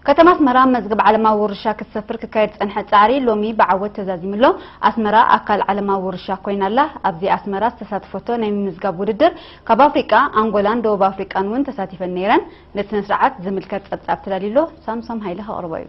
ከተማ ኣስመራ መዝገብ ዓለማዊ ውርሻ ክትሰፍር ክካየድ ዝጸንሐ ጻዕሪ ሎሚ ብዓወት ተዛዚሙ ኣሎ። ኣስመራ ኣካል ዓለማዊ ውርሻ ኮይና ኣላ። ኣብዚ ኣስመራ ዝተሳተፈቶ ናይ ምምዝጋብ ውድድር ካብ ኣፍሪቃ ኣንጎላን ደቡብ ኣፍሪቃን እውን ተሳቲፈን ነይረን። ነቲ ስነስርዓት ዝምልከት ጸብጻብ ተዳልዩ ኣሎ። ሳምሶም ሃይለ ከቕርቦ እዩ።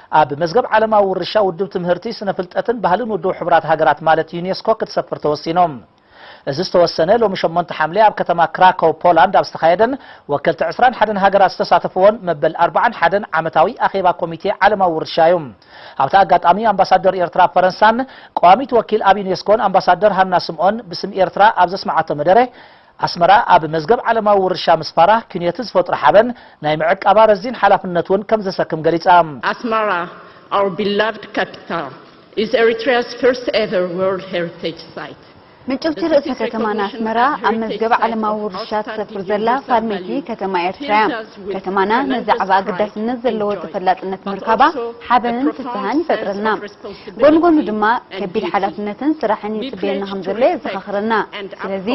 ኣብ መዝገብ ዓለማዊ ውርሻ ውድብ ትምህርቲ፣ ስነ ፍልጠትን ባህልን ውድብ ሕቡራት ሃገራት ማለት ዩኔስኮ ክትሰፍር ተወሲኑ። እዚ ዝተወሰነ ሎሚ ሸሞንተ ሓምለ ኣብ ከተማ ክራኮው ፖላንድ ኣብ ዝተኻየደን ወከልቲ ዕስራን ሓደን ሃገራት ዝተሳተፍዎን መበል ኣርብዓን ሓደን ዓመታዊ ኣኼባ ኮሚቴ ዓለማዊ ውርሻ እዩ። ኣብቲ ኣጋጣሚ ኣምባሳደር ኤርትራ ኣብ ፈረንሳን ቀዋሚት ወኪል ኣብ ዩኔስኮን ኣምባሳደር ሃና ስምኦን ብስም ኤርትራ ኣብ ዘስመዓቶ መደረ ኣስመራ ኣብ መዝገብ ዓለማዊ ውርሻ ምስፋራ ክንዮቲ ዝፈጥሮ ሓበን ናይ ምዕቃባ ረዚን ሓላፍነት ውን ከምዘሰክም ገሊጻ። Asmara, our beloved capital, is Eritrea's first ever World Heritage Site. ምጭውቲ ርእሰ ከተማና ኣስመራ ኣብ መዝገብ ዓለማዊ ውርሻ ትሰፍር ዘላ ፋልመይቲ ከተማ ኤርትራ እያ። ከተማና ንዛዕባ ኣገዳስነት ዘለዎ ተፈላጥነት ምርካባ ሓበንን ፍስሃን ይፈጥረልና። ጎኒ ጎኑ ድማ ከቢድ ሓላፍነትን ስራሕን ይጽበየና ከም ዘሎ የዘኻኽረና። ስለዚ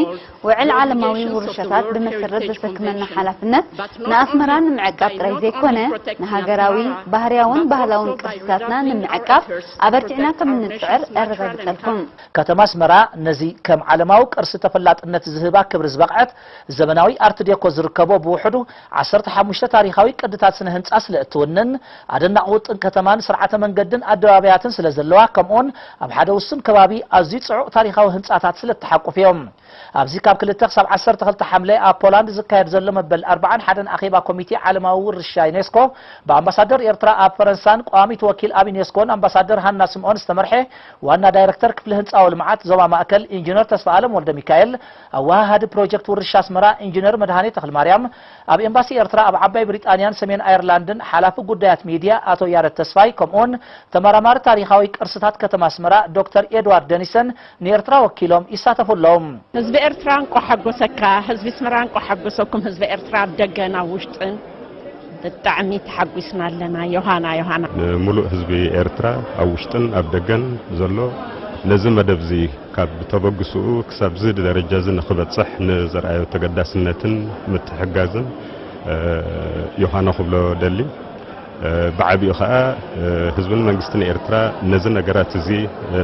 ውዕል ዓለማዊ ውርሻታት ብመሰረት ዘሰክመና ሓላፍነት ንኣስመራ ንምዕቃብ ጥራይ ዘይኮነ ንሃገራዊ፣ ባህርያውን ባህላውን ቅርስታትና ንምዕቃብ ኣበርቲዕና ከም እንጽዕር እረጋግጸልኩም። ከተማ ኣስመራ ነዚ ከም ዓለማዊ ቅርሲ ተፈላጥነት ዝህባ ክብሪ ዝበቕዐት ዘመናዊ ኣርት ዴኮ ዝርከቦ ብውሕዱ ዓሰርተ ሓሙሽተ ታሪኻዊ ቅድታት ስነ ህንጻ ስለ እትውንን፣ ኣደናቒ ውጥን ከተማን ስርዓተ መንገድን ኣደባባያትን ስለ ዘለዋ ከምኡውን ኣብ ሓደ ውሱን ከባቢ ኣዝዩ ጽዑቕ ታሪኻዊ ህንጻታት ስለ እትሓቁፍ ኢዮም። ኣብዚ ካብ ክልተ ክሳብ ዓሰርተ ክልተ ሓምለ ኣብ ፖላንድ ዝካየድ ዘሎ መበል ኣርብዓን ሓደን ኣኼባ ኮሚቴ ዓለማዊ ውርሻ ዩኔስኮ ብኣምባሳደር ኤርትራ ኣብ ፈረንሳን ቋሚት ወኪል ኣብ ዩኔስኮን ኣምባሳደር ሃና ስምኦን ዝተመርሐ ዋና ዳይረክተር ክፍሊ ህንጻዊ ልምዓት ዞባ ማእከል ኢንጂነር ተስፋኣለም ወልደሚካኤል ኣወሃሃዲ ፕሮጀክት ውርሻ ኣስመራ ኢንጂነር መድሃኔ ተኽልማርያም፣ ኣብ ኤምባሲ ኤርትራ ኣብ ዓባይ ብሪጣንያን ሰሜን ኣየርላንድን ሓላፊ ጉዳያት ሚድያ ኣቶ ያረድ ተስፋይ ከምኡ'ውን ተመራማሪ ታሪኻዊ ቅርስታት ከተማ ኣስመራ ዶክተር ኤድዋርድ ደኒሰን ንኤርትራ ወኪሎም ይሳተፉ ኣለዉ። ህዝቢ ኤርትራ እንቋዕ ሓጎሰካ ህዝቢ ኣስመራ እንቋዕ ሓጎሰኩም ህዝቢ ኤርትራ ኣብ ደገን ኣብ ውሽጥን። ብጣዕሚ ተሓጒስና ኣለና ዮሃና ዮሃና። ንሙሉእ ህዝቢ ኤርትራ ኣብ ውሽጥን ኣብ ደገን ዘሎ ነዚ መደብዚ ካብ ተበግስኡ ክሳብዚ ደረጃዚ ንክበጽሕ ንዘርኣዮ ተገዳስነትን ምትሕግጋዝን ዮሃና ክብሎ እደሊ። ብዓቢኡ ከኣ ህዝብን መንግስትን ኤርትራ ነዚ ነገራት እዚ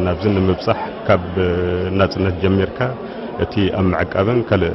ናብዚ ንምብጻሕ ካብ ናጽነት ጀሚርካ እቲ ኣብ ምዕቃብን ካልእ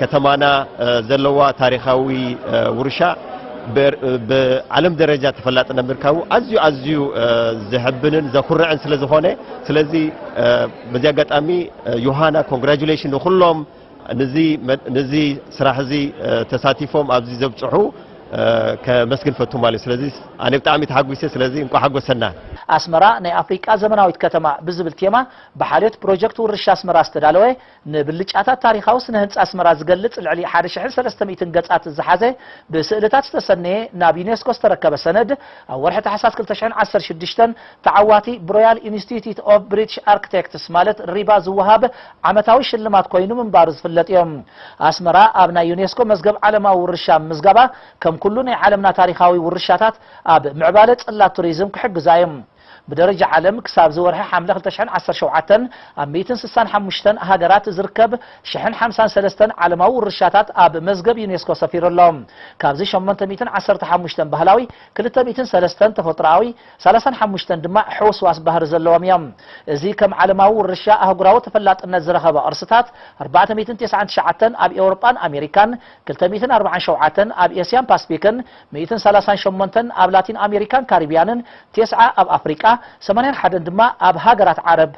ከተማና ዘለዋ ታሪኻዊ ውርሻ ብዓለም ደረጃ ተፈላጥነት ምርካቡ ኣዝዩ ኣዝዩ ዘሕብንን ዘኩርዕን ስለ ዝኾነ ስለዚ በዚ ኣጋጣሚ ዮሃና ኮንግራጁሌሽን ንኩሎም ነዚ ስራሕ እዚ ተሳቲፎም ኣብዚ ዘብፅሑ ከመስግን ፈቱ ማለት እዩ ስለዚ ኣነ ብጣዕሚ ተሓጒሰ ስለዚ እንኳ ሓጎሰና ኣስመራ ናይ ኣፍሪቃ ዘመናዊት ከተማ ብዝብል ቴማ ብሓልዮት ፕሮጀክት ውርሻ ኣስመራ ዝተዳለወ ንብልጫታት ታሪኻዊ ስነ ህንጻ ኣስመራ ዝገልጽ ልዕሊ ሓደ ሽሕን ሰለስተ ሚእትን ገጻት ዝሓዘ ብስእልታት ዝተሰነየ ናብ ዩኔስኮ ዝተረከበ ሰነድ ኣብ ወርሒ ታሕሳስ ክልተ ሽሕን ዓሰርተ ሽዱሽተን ተዓዋቲ ብሮያል ኢንስቲትዩት ኦቭ ብሪትሽ ኣርክቴክትስ ማለት ሪባ ዝወሃብ ዓመታዊ ሽልማት ኮይኑ ምንባሩ ዝፍለጥዮ። ኣስመራ ኣብ ናይ ዩኔስኮ መዝገብ ዓለማዊ ውርሻ ምምዝጋባ ከም ኩሉ ናይ ዓለምና ታሪኻዊ ውርሻታት ኣብ ምዕባለ ጽላት ቱሪዝም ክሕግዛዮ። ብደረጃ ዓለም ክሳብ እዚ ወርሒ ሓምለ ክልተ ሽሕን ዓሰርተ ሸውዓተን ኣብ ሚእትን ስሳን ሓሙሽተን ሃገራት ዝርከብ ሽሕን ሓምሳን ሰለስተን ዓለማዊ ውርሻታት ኣብ መዝገብ ዩኔስኮ ሰፊሩ ኣሎ። ካብዚ ሸሞንተ ሚእትን ዓሰርተ ሓሙሽተን ባህላዊ፣ ክልተ ሚእትን ሰለስተን ተፈጥሮኣዊ፣ ሰላሳን ሓሙሽተን ድማ ሕውስዋስ ባህሪ ዘለዎም እዮም። እዚ ከም ዓለማዊ ውርሻ ኣህጉራዊ ተፈላጥነት ዝረኸበ ቅርስታት ኣርባዕተ ሚእትን ቴስዓን ትሽዓተን ኣብ ኤውሮጳን ኣሜሪካን፣ ክልተ ሚእትን ኣርብዓን ሸውዓተን ኣብ ኤስያን ፓስፊክን፣ ሚእትን ሰላሳን ሸሞንተን ኣብ ላቲን ኣሜሪካን ካሪብያንን፣ ቴስዓ ኣብ ኣፍሪቃ፣ ሰማንያን ሓደን ድማ ኣብ ሃገራት ዓረብ።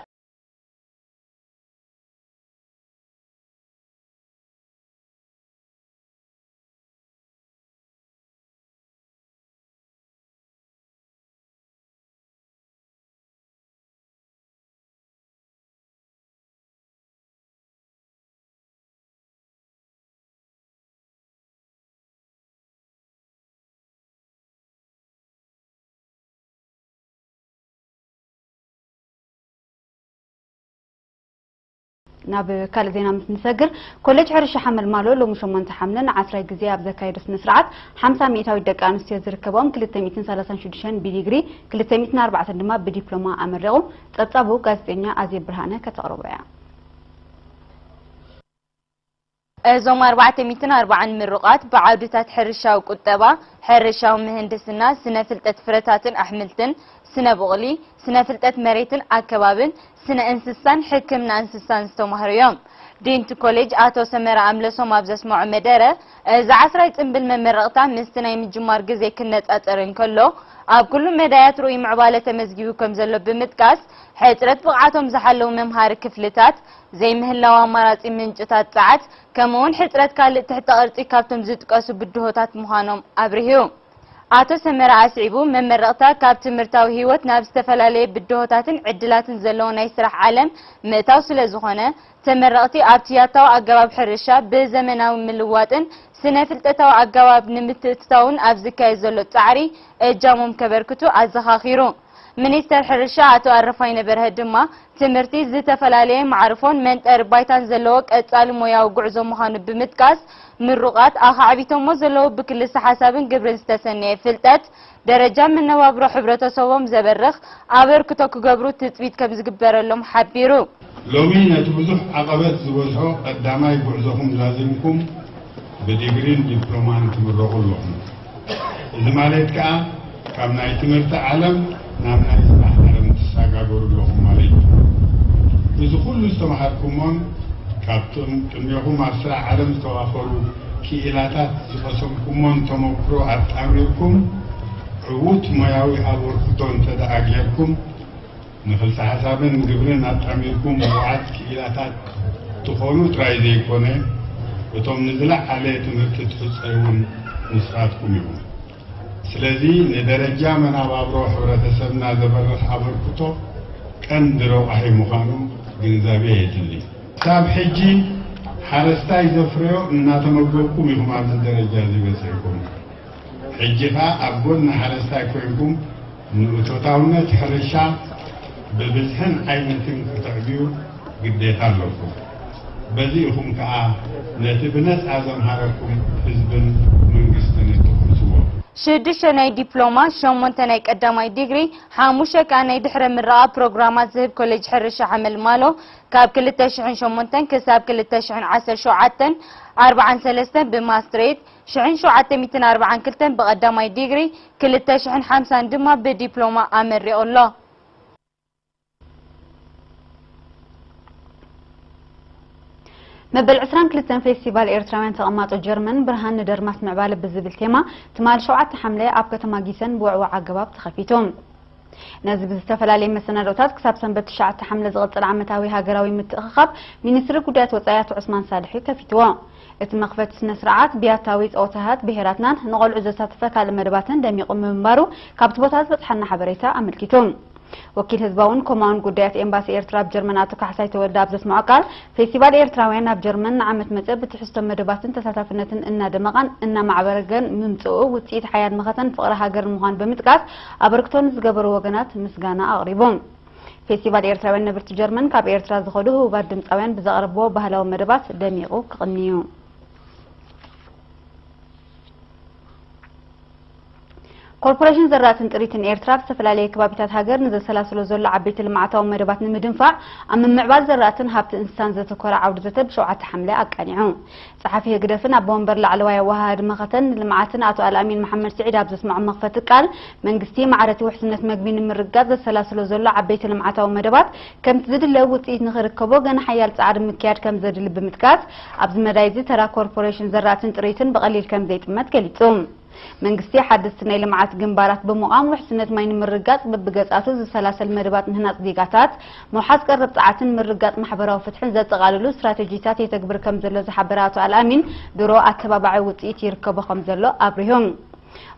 ናብ ካልእ ዜና ምስ ንሰግር ኮሌጅ ሕርሻ ሓመልማሎ ሎሚ 8 ሓምለ ንዓስራይ ግዜ ኣብ ዘካየዶ ስነ ስርዓት 50 ሚእታዊት ደቂ ኣንስትዮ ዝርከቦም 236 ብዲግሪ 204 ድማ ብዲፕሎማ ኣመሪቑ ጸብጻቡ ጋዜጠኛ ኣዜ ብርሃነ ከተቕርቦ እያ እዞም ኣርባዕተ ሚእትን ኣርባዓን ምሩቓት ብዓውድታት ሕርሻዊ ቁጠባ፣ ሕርሻዊ ምህንድስና፣ ስነ ፍልጠት ፍረታትን ኣሕምልትን፣ ስነ ቡቕሊ፣ ስነ ፍልጠት መሬትን ኣከባብን፣ ስነ እንስሳን ሕክምና እንስሳን ዝተማህሩ እዮም። ዲን'ቲ ኮሌጅ ኣቶ ሰመረ ኣምለሶም ኣብ ዘስመዖ መደረ፣ እዚ ዓስራይ ጽንብል መመረቕታ ምስቲ ናይ ምጅማር ግዜ ክነጻጸር እንከሎ ኣብ ኩሉ መዳያት ርኡይ ምዕባለ ተመዝጊቡ ከምዘሎ ብምጥቃስ፣ ሕጽረት ብቕዓቶም ዝሓለዉ መምሃሪ ክፍልታት ዘይምህላው ኣማራጺ ምንጭታት ጸዓት፣ ከምኡ'ውን ሕጽረት ካልእ ትሕተ ቅርጺ ካብቶም ዝጥቀሱ ብድሆታት ምዃኖም ኣብሪሁ። ኣቶ ሰመረ ኣስዒቡ፣ መመረቕታ ካብ ትምህርታዊ ህይወት ናብ ዝተፈላለየ ብድሆታትን ዕድላትን ዘለዎ ናይ ስራሕ ዓለም ምእታው ስለዝኾነ፣ ተመረቕቲ ኣብቲ ያታዊ ኣገባብ ሕርሻ ብዘመናዊ ምልዋጥን ስነ-ፍልጠታዊ ኣገባብ ንምትእትታውን ኣብ ዝካየድ ዘሎ ጻዕሪ እጃሞም ከበርክቱ ኣዘኻኺሩ። ሚኒስተር ሕርሻ ኣቶ ኣረፋይነ በርሀ ድማ፣ ትምህርቲ ዝተፈላለየ መዓርፎን መንጠሪ ባይታን ዘለዎ ቀጻሊ ሞያዊ ጉዕዞ ምዃኑ ብምጥቃስ፣ ምሩቓት ኣኻዕቢቶሞ ዘለዉ ብክልሰ-ሓሳብን ግብርን ዝተሰነየ ፍልጠት፣ ደረጃ መነባብሮ ሕብረተሰቦም ዘበርኽ ኣበርክቶ ክገብሩ ትጽቢት ከምዝግበረሎም ሓቢሩ። ሎሚ ነቲ ብዙሕ ዓቐበት ዝበዝሖ ቀዳማይ ጉዕዞኹም ዛዚምኩም ብዲግሪን ዲፕሎማን ትምረቑ ኣለኹም። እዚ ማለት ከኣ ካብ ናይ ትምህርቲ ዓለም ናብ ናይ ስራሕ ዓለም ትሳጋገሩ ኣለኹም ማለት እዩ። እዚ ኩሉ ዝተመሃርኩሞን ካብቶም ቅድሜኹም ኣብ ስራሕ ዓለም ዝተዋፈሩ ክኢላታት ዝቐሰምኩሞን ተመኩሮ ኣጣሚርኩም ዕዉት ሞያዊ ኣበርክቶ እንተደኣ ጌርኩም ንክልሰ-ሓሳብን ግብርን ኣጣሚርኩም ምዉዓት ክኢላታት ትኾኑ ጥራይ ዘይኮነ፣ እቶም ንዝለዓለ ትምህርቲ ትሕጸዩ'ውን ንስኻትኩም ኢኹም። ስለዚ ንደረጃ መናባብሮ ሕብረተሰብና ዘበርኽ ኣበርክቶ ቀንዲ ረቋሒ ምዃኑ ግንዛቤ የድሊ። ክሳብ ሕጂ ሓረስታይ ዘፍረዮ እናተመገብኩም ኢኹም ኣብዚ ደረጃ'ዚ በጺሕኩም። ሕጂ ከኣ ኣብ ጎኒ ሓረስታይ ኮይንኩም፣ ንእቶታውነት ሕርሻ ብብዝሕን ዓይነትን ክተዕብዩ ግዴታ ኣለኩም። በዚ ኢኹም ከኣ ነቲ ብነጻ ዘምሃረኩም ህዝብን መንግስትን እትኹስዎ። ሽዱሽተ ናይ ዲፕሎማ፣ ሸሞንተ ናይ ቀዳማይ ዲግሪ፣ ሓሙሽተ ከኣ ናይ ድሕረ ምረቓ ፕሮግራማት ዝህብ ኮሌጅ ሕርሻ ሓመልማሎ ካብ ክልተ ሽሕን ሸሞንተን ክሳብ ክልተ ሽሕን ዓሰርተ ሸውዓተን ኣርብዓን ሰለስተን ብማስትሬት ሽሕን ሸውዓተ ሚእትን ኣርብዓን ክልተን ብቐዳማይ ዲግሪ፣ ክልተ ሽሕን ሓምሳን ድማ ብዲፕሎማ ኣመሪቑ ኣሎ። መበል ዕስራን ክልተን ፌስቲቫል ኤርትራውያን ተቐማጦ ጀርመን ብርሃን ንደርማስ ምዕባለ ብዝብል ቴማ ትማሊ ሸውዓተ ሓምለ ኣብ ከተማ ጊሰን ብውዕዉዕ ኣገባብ ተኸፊቱ። ነዚ ብዝተፈላለየ መሰናድኦታት ክሳብ ሰንበት ትሽዓተ ሓምለ ዝቕጽል ዓመታዊ ሃገራዊ ምትእኽኻብ ሚኒስትሪ ጉዳያት ወጻኢ ኣቶ ዑስማን ሳልሕ'ዩ ከፊትዎ። እቲ መኽፈቲ ስነ-ስርዓት ብያታዊ ጸወታታት ብሄራትናን ንቖልዑ ዘሳተፈ ካልእ መደባትን ደሚቑ ምንባሩ ካብቲ ቦታ ዝበጽሓና ሓበሬታ ኣመልኪቱ። ወኪል ህዝባውን ኮማውን ጉዳያት ኤምባሲ ኤርትራ ኣብ ጀርመን ኣቶ ካሕሳይ ተወልደ ኣብ ዘስምዖ ቃል፣ ፌስቲቫል ኤርትራውያን ኣብ ጀርመን ንዓመት መጸ ብትሕዝቶ መደባትን ተሳታፍነትን እናደመቐን እናማዕበረገን ምምጽኡ ውጽኢት ሓያል መኸተን ፍቕሪ ሃገርን ምዃኑ ብምጥቃስ፣ ኣበርክቶ ንዝገበሩ ወገናት ምስጋና ኣቕሪቡ። ፌስቲቫል ኤርትራውያን ነበርቲ ጀርመን ካብ ኤርትራ ዝኸዱ ህቡባት ድምጻውያን ብዘቕረብዎ ባህላዊ መደባት ደሚቑ ክቕኒ'ዩ። ኮርፖሬሽን ዘራእትን ጥሪትን ኤርትራ ኣብ ዝተፈላለየ ከባቢታት ሃገር ንዘሰላስሎ ዘሎ ዓበይቲ ልምዓታዊ መደባት ንምድንፋዕ ኣብ ምምዕባል ዘራእትን ሃብቲ እንስሳን ዘተኮረ ዓውደ ዘተ ብሸውዓተ ሓምለ ኣቃኒዑ። ጸሓፊ ህግደፍን ኣቦ ወንበር ላዕለዋይ ኣወሃሃዲ መኸተን ንልምዓትን ኣቶ ኣልኣሚን መሓመድስዒድ ኣብ ዘስመዖም መኽፈቲ ቃል፣ መንግስቲ ማዕረ'ቲ ውሕስነት መግቢ ንምርግጋጽ ዘሰላስሎ ዘሎ ዓበይቲ ልምዓታዊ መደባት ከምቲ ዝድለ ውጽኢት ንኽርከቦ ገና ሓያል ጻዕሪ ምክያድ ከምዘድሊ ብምጥቃስ፣ ኣብዚ መዳይ'ዚ ተራ ኮርፖሬሽን ዘራእትን ጥሪትን ብቐሊል ከምዘይጥመት ገሊጹ። መንግስቲ ሓደስቲ ናይ ልምዓት ግንባራት ብምቛም ውሕስነት ማይ ንምርግጋፅ በብገፃቱ ዝሰላሰል መደባት ምህናፅ ዜጋታት፣ ምውሓስ ቀረብ ፀዓትን ምርግጋፅ ማሕበራዊ ፍትሕን ዘጠቓልሉ ስትራቴጂታት የተግብር ከምዘሎ ዝሓበረ ኣቶ ኣልኣሚን፣ ድሮ ኣተባባዒ ውፅኢት ይርከቦ ከምዘሎ ኣብሪሁ።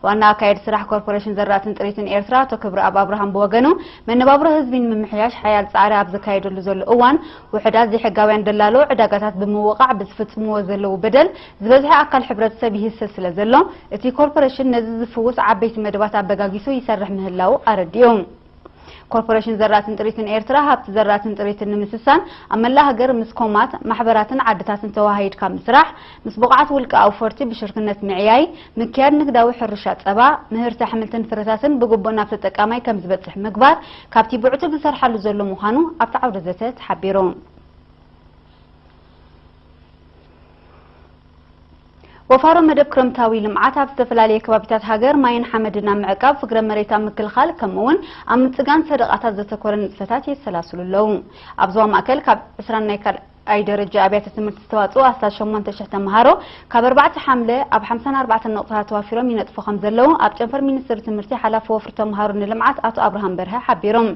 ዋና ኣካየዲ ስራሕ ኮርፖሬሽን ዘራእትን ጥሪትን ኤርትራ ኣቶ ክብረኣብ ኣብርሃም ብወገኑ፣ መነባብሮ ህዝቢ ንምምሕያሽ ሓያል ፃዕሪ ኣብ ዝካየደሉ ዘሎ እዋን፣ ውሑዳት ዘይሕጋውያን ደላሎ ዕዳጋታት ብምውቓዕ ብዝፍፅምዎ ዘለዉ በደል፣ ዝበዝሐ ኣካል ሕብረተሰብ ይህሰ ስለ ዘሎ፣ እቲ ኮርፖሬሽን ነዚ ዝፍውስ ዓበይቲ መደባት ኣበጋጊሱ ይሰርሕ ምህላዉ ኣረዲኡ። ኮርፖሬሽን ዘራእትን ጥሪትን ኤርትራ፣ ሃብቲ ዘራእትን ጥሪትን ንምስሳን፣ ኣብ መላእ ሃገር ምስ ኮማት፣ ማሕበራትን ዓድታትን ተወሃሂድካ ምስራሕ፣ ምስ ብቑዓት ውልቀ ኣውፈርቲ ብሽርክነት ምዕያይ፣ ምክያድ ንግዳዊ ሕርሻ ጸባ፣ ምህርቲ ኣሕምልትን ፍረታትን ብግቡእ ናብ ተጠቃማይ ከም ዝበጽሕ ምግባር ካብቲ ብዕቱብ ዝሰርሓሉ ዘሎ ምዃኑ ኣብቲ ዓውደ ዘተ ተሓቢሩ። ወፋሮ መደብ ክረምታዊ ልምዓት ኣብ ዝተፈላለየ ከባቢታት ሃገር ማይን ሓመድን ኣብ ምዕቃብ፣ ፍግረ መሬት ኣብ ምክልኻል ከምኡ እውን ኣብ ምፅጋን ሰደቓታት ዘተኮረ ንጥፈታት የሰላስሉ ኣለዉ። ኣብ ዞባ ማእከል ካብ ዕስራን ናይ ካልኣይ ኣይ ደረጃ ኣብያተ ትምህርቲ ዝተዋፅኡ ኣስታት ሸሞንተ ሽሕ ተምሃሮ ካብ ኣርባዕተ ሓምለ ኣብ ሓምሳን ኣርባዕተን ነቑፅታት ተዋፊሮም ይነጥፉ ከምዘለዉ ኣብ ጨንፈር ሚኒስትሪ ትምህርቲ ሓላፊ ወፍሪ ተምሃሮ ንልምዓት ኣቶ ኣብርሃም በርሀ ሓቢሮም።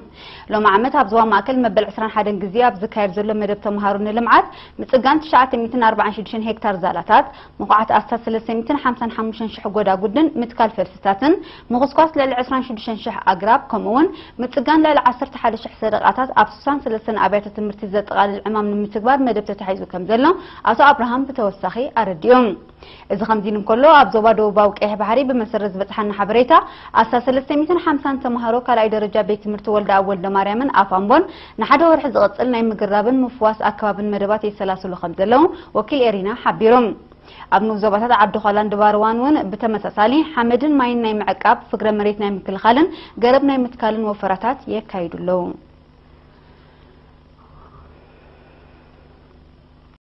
ሎሚ ዓመት ኣብ ዞባ ማእከል መበል ዕስራን ሓደን ግዜ ኣብ ዝካየድ ዘሎ መደብ ተመሃሮ ንልምዓት ምጽጋን ትሽዓተ ሚእትን ኣርባዓን ሽዱሽተን ሄክታር ዛላታት፣ ምኹዓት ኣስታት ሰለስተ ሚእትን ሓምሳን ሓሙሽተን ሽሕ ጎዳጉድን ምትካል ፈልስታትን፣ ምኹስኳስ ልዕሊ ዕስራን ሽዱሽተን ሽሕ ኣግራብ ከምኡ'ውን ምጽጋን ልዕሊ ዓሰርተ ሓደ ሽሕ ሰደቓታት ኣብ ስሳን ሰለስተን ኣብያተ ትምህርቲ ዘጠቓልል ዕማም ንምትግባር መደብ ተታሒዙ ከምዘሎ ኣቶ ኣብርሃም ብተወሳኺ ኣረዲኡ። እዚ ከምዚሉ እንከሎ፣ ኣብ ዞባ ደቡባዊ ቀይሕ ባሕሪ ብመሰረት ዝበጽሓና ሓበሬታ ኣስታት ሰለስተ ሚእትን ሓምሳን ተመሃሮ ካልኣይ ደረጃ ቤት ትምህርቲ ወልደኣብ ወልደማርያምን ኣፍ ኣምቦን ንሓደ ወርሒ ዝቕጽል ናይ ምግራብን ምፍዋስ ኣከባብን መደባት የሰላስሉ ከምዘለዉ ወኪል ኤሪና ሓቢሩ። ኣብ ንኡስ ዞባታት ዓዲ-ዃላን ድባርዋን እውን ብተመሳሳሊ ሓመድን ማይን ናይ ምዕቃብ፣ ፍግረ መሬት ናይ ምክልኻልን ገረብ ናይ ምትካልን ወፈራታት የካይዱ ኣለዉ።